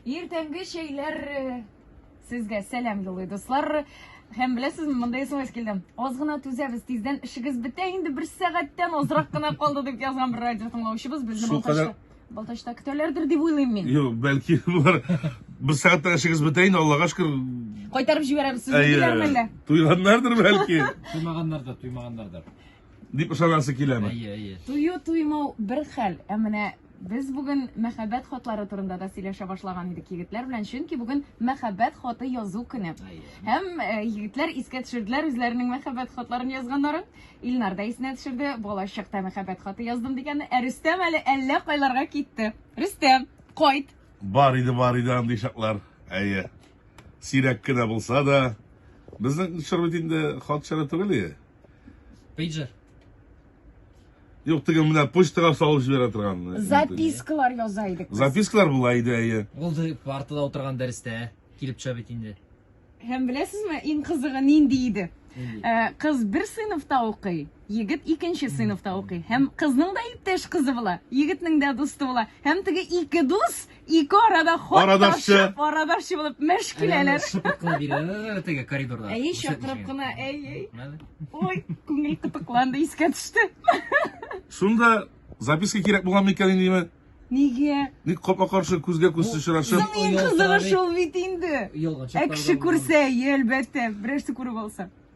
Иртәнге чәйләр э, сезгә сәлам юлый дуслар. Һәм беләсезме, монда смс килде. Аз гына түзәбез, тиздән эшегез бетә инде, бер сәгатьтән азрак кына калды дип язган бер радио тыңлаучыбыз безне Шул кадәр- Балтачта, Балтачта көтәләрдер дип уйлыйм мин. Юк, бәлки булар. Бер сәгатьтә эшегез бетә инде, Аллага шөкер. Кайтарып җибәрәбез сезне Әйе. диләрме әллә? Туйганнардыр бәлки. Туймаганнарда, туймаганнарда. дип ышанасы киләме? Әйе, әйе. Тую туймау бер хәл, ә менә без бүген мәхәббәт хатлары турында да сөйләшә башлаган идек егетләр белән, чөнки бүген мәхәббәт хаты язу көне. Һәм э, егетләр искә төшерделәр үзләренең мәхәббәт хатларын язганнарын. Илнар да исенә төшерде, балачакта мәхәббәт хаты яздым дигәнне. Ә Рөстәм әле әллә кайларга китте. Рөстәм, кайт! Бар иде, бар иде андый чаклар. Әйе. Сирәк кенә булса да, безнең чор бит инде хат чоры түгел. Пейджер. Юк, теге менә почтага салып җибәрә торган. Э, Запискалар яза идек. Запискалар була иде, әйе. Ул партада утырган дәрестә килеп төшә бит инде. Һәм беләсезме, иң кызыгы нинди иде? Э, кыз бер сыйныфта укый, егет икенче сыйныфта укый. Һәм кызның да иптәш кызы була, егетнең дә дусты була. Һәм теге ике дус Ике арада хат Арадашчы. ташып, арадашчы булып мәш киләләр. Шыпык кына бирә, ә, теге коридорда. Әйе, Күрсәтмичә. чакырып кына, әй, әй. Менә. Ой, күңел кытыкланды, искә төште. Шунда записка кирәк булган микән инде димә. Нигә? Ник капма каршы күзгә күз очрашып. Соң иң кызыгы шул бит инде. Ялганчык Ә кеше күрсә, әйе, әлбәттә, берәрсе күреп алса.